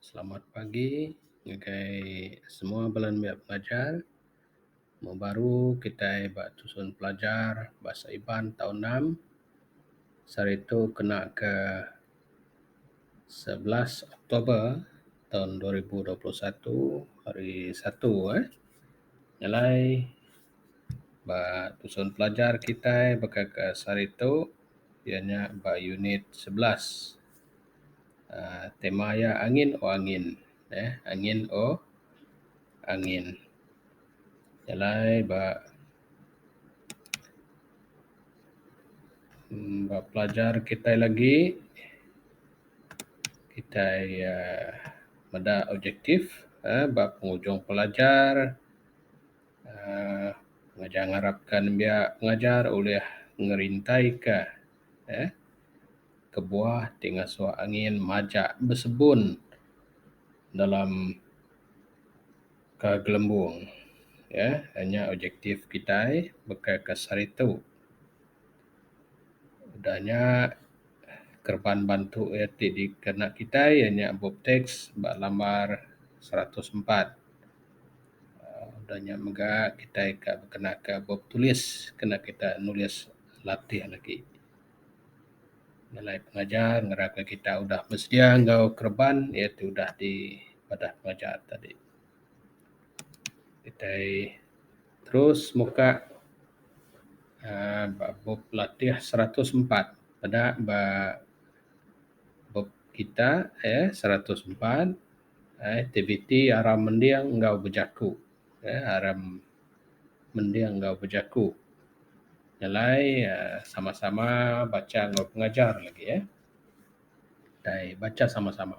Selamat pagi ngagai semua bala nembiak pengajar. Mung baru kitai ba tusun pelajar Bahasa Iban tau enam. Sehari tu kena ke sebelas Oktober taun dua ribu dua puluh satu, hari Satu eh. Nya alai ba tusun pelajar kitai baka ke sehari tu. iya nya ba unit sebelas aaa tema iya angin o angin eeh angin o angin jalai ba mmm ba pelajar kitai lagi kitai aaa meda objektif aaa ba pengujung pelajar. Um Ngajar ngarapka nembiak ngajar ulih ngerintaika um kebuah ti ngasuh angin majak besebun dalam ka gelembung um nya objektif kitai baka ka saritu. Udah nya kereban bantu iya ti dikena kitai iya nya bup teks ba lambar seratus empat. Udah nya mega kitai ka kena ka bup tulis kena kita nulis latih lagi nilai pengajar ngarap ka kita udah besedia enggau kereban iya ti udah di padah pengajar tadi. Kitai terus muka aaa ba bup latih seratus empat peda ba bup kita aaa seratus empat. Aktiviti aram mending enggau bejaku uhh aram mending enggau bejaku nyelai uhh sama sama bacha enggau pengajar lagi uhh tai bacha sama sama.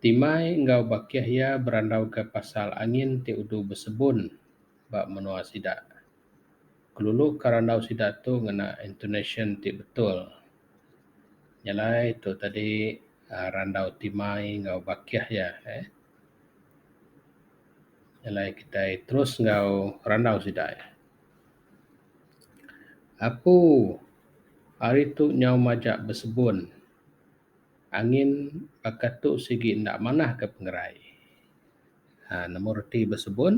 Timai enggau bakih iya berandau ka pasal angin ti udu besebun ba menua sida. Kelulu ka randau sida tu ngena intonasyen ti betul. Nya alai tu tadi uhh randau ti mai enggau bakih iya uhh. Nya alai kitai terus enggau randau sida. Apu ari tu nyau majak besebun. Angin baka tu sigi enda manah ka pengerai. uhh nemu reti besebun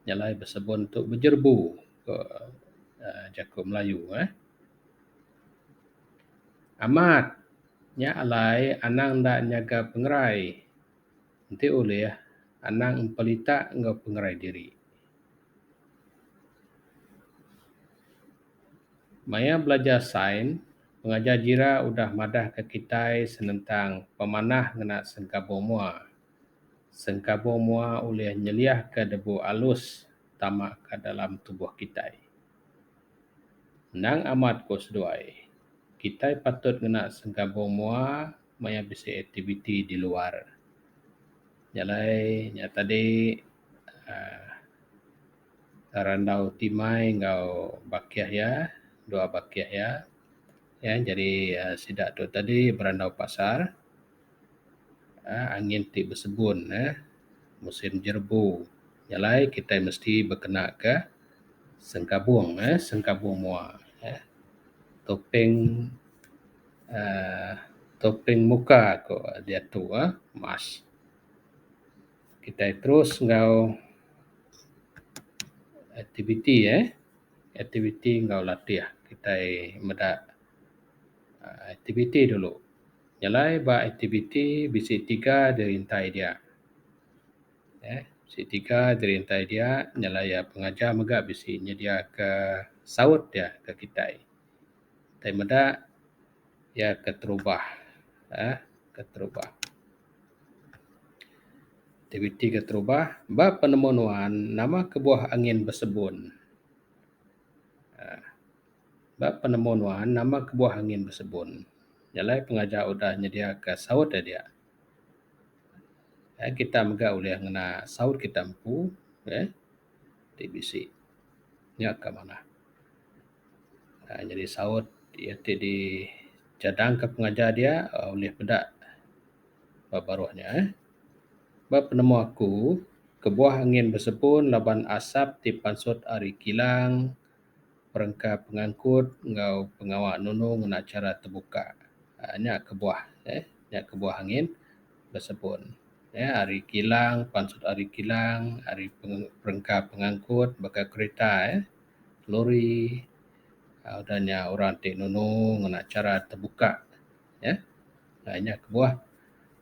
nyelai besebon tu bejerbu ku uhh jaku melayu uhh. Amat nya alai anang enda nyaga pengerai enti ulih anang empelita enggau pengerai diri. Maya belajar sain pengajar jira udah madahka kitai senentang pemanah ngena sengkabung mua. Sengkabung mua ulih nyeliahka debu alus tama ka dalam tubuh kitai. Endang amat ku seduai, kitai patut ngena sengkabung mua maya bisi aktiviti di luar. Nya alai nya tadi uhh randau timai enggau bakih iya, dua bakih iya. Iya nyadi sida tu tadi berandau pasar. uhh angin ti besegun uhh musim jerebu nya alai kitai mesti bekena ka sengkabung uhh sengkabung mua uhh topeng uhh topeng muka ku diatu uhh mask. Kitai terus enggau aktiviti uhh aktiviti enggau latih kitai meda. Aktiviti dulu. Nyelai ba aktiviti bisi tiga dirintai dia. Eee bisi tiga dirintai dia nyelai iya pengajar mega bisi nyediaka saut dia ke kitai. Kitai meda iya keterubah eee keterubah. Aktiviti keterubah ba penemu nuan nama kebuah angin besebun eee. Ba penemu nuan nama kebuah angin besebun? Jalai pengajar udah nyediaka saut nya dia. Ai kita mega ulih ngena saut kita empu eh ti bisi nya ka manah aaa nyadi saut iya ti dicadangka pengajar dia aaa ulih peda ba baruh nya eh. Ba penemu aku kebuah angin besebun laban asap ti pansut ari kilang perengka pengangkut enggau pengawa nunu ngena chara tebuka. uhh Nya kebuah uhh nya kebuah angin besebun uhh ari kilang pan sut ari kilang ari perengka pengangkut baka kereta uhh lori uhh udah nya orang ti nunu ngena chara tebuka uhh nya kebuah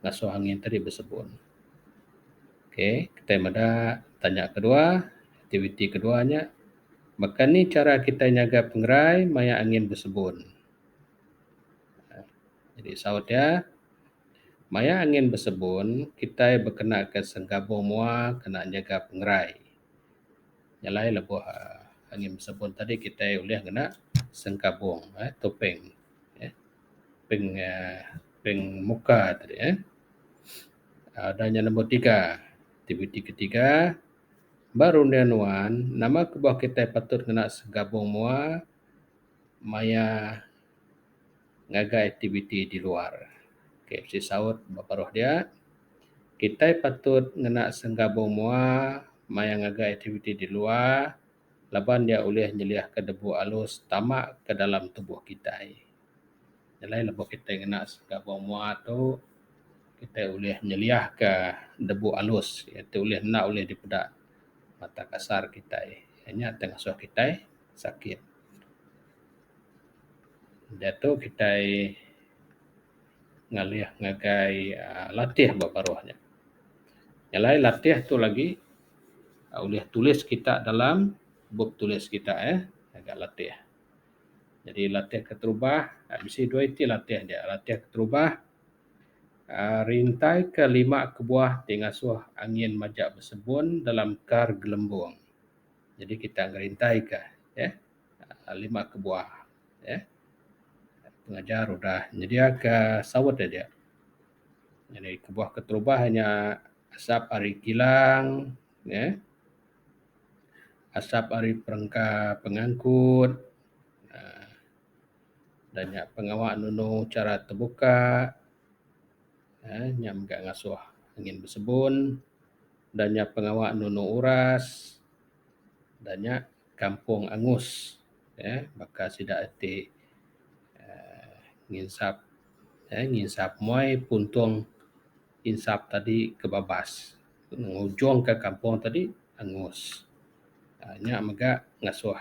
ngasuh angin tadi besebun. Okay kitai meda tanya kedua aktiviti kedua nya. Baka ni chara kitai nyaga pengerai maya angin besebun? Jadi saut iya, maya angin besebun kitai bekenaka sengkabung mua kena nyaga pengerai. Nya alai lebuh angin besebun tadi kitai ulih ngena sengkabung uhh topeng uhh peng uhh peng muka tadi uhh. Udah nya nombor tiga, aktiviti ketiga Ba runding nuan, nama ke bauh kitai patut ngena segabung mua maya ngagai aktiviti di luar? Okay, bisi saut ba paruh dia. Kitai patut ngena segabung mua maya ngagai aktiviti di luar laban iya ulih nyeliahka debu alus tama ke dalam tubuh kitai. Nyelai lebuh kita ngena sekeda bua mua tu kita ulih nyeliah ka debu alus iyen tu ulih enda ulih dipeda mata kasar kitai inya tu ngasoh kitai sakit. Diatu kitai ngalih ngagai aaa latih ba baruh nya. Nyelai latih tu lagi ulih tulis kita dalam bup tulis kita eh ngaga latih. Jadi latih keterubah bisi dua iti latih dia. Latih keterubah aaa rintai ke lima kebuah ti ngasuh angin majak besebun dalam kar gelembung. Jadi kita ngerintai ka eeh lima kebuah eeh pengajar udah nyedia ka saut aja. Jadi kebuah keterubah nya asap ari kilang eeh. asap ari perengka pengangkut aaa da nya pengawa nunu chara tebuka aaa nya mega ngasuh angin besebun da nya pengawa nunu uras da nya kampung angus eeh baka sida ti aaa nginsap eeh nginsap muai puntung. insap tadi ke babas ngujung ka kampung tadi angus uhh nya mega ngasuh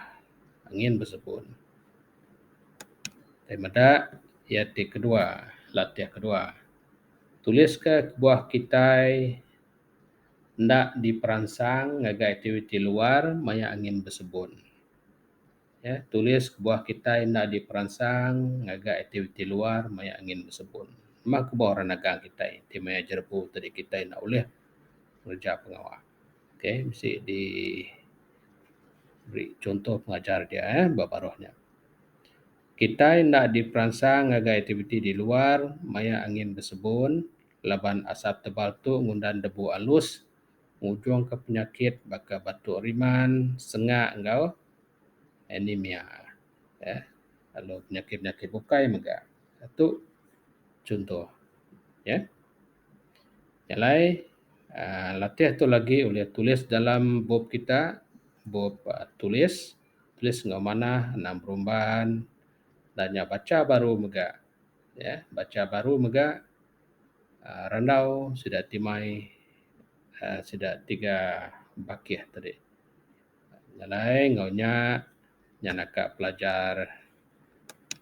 angin biseput. Tei meda iya ti kedua latih kedua tulis ka kebuah kitai enda diperansang ngagai aktiviti luar maya angin bisebut. Ya, tulis kebuah kitai enda diperansang ngaga aktiviti luar maya angin besebun. Meh kebuah orang nagang kitai ti maya jerebu ti deh kitai enda ulih ngereja pengawa. Okay, mesti di beri chunto pengajar dia eh ba baruh nya. Kitai enda diperansang ngaga aktiviti di luar maya angin besebun laban asap tebal tu ngundan debu alus. ngujungka penyakit baka batuk riman, sengak enggau anemia uhh lalu penyakit-penyakit bukai mega. Tu chuntoh uhh. Nya alai uhh latih tu lagi ulih tulis dalam bup kita, bup uhh tulis, tulis enggau manah anang berumban enda nya bacha baru mega uhh bacha baru mega. randau sida ti mai uhh sida tiga bakih ti dek nyelai enggau nya nya naka pelajar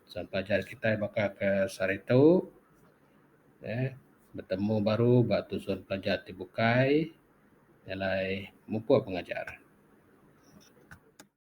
selalu pelajar kitai baka ke sehari tu uhh betemu baru ba tusun pelajar ti bukai nyelai mupok pengajar.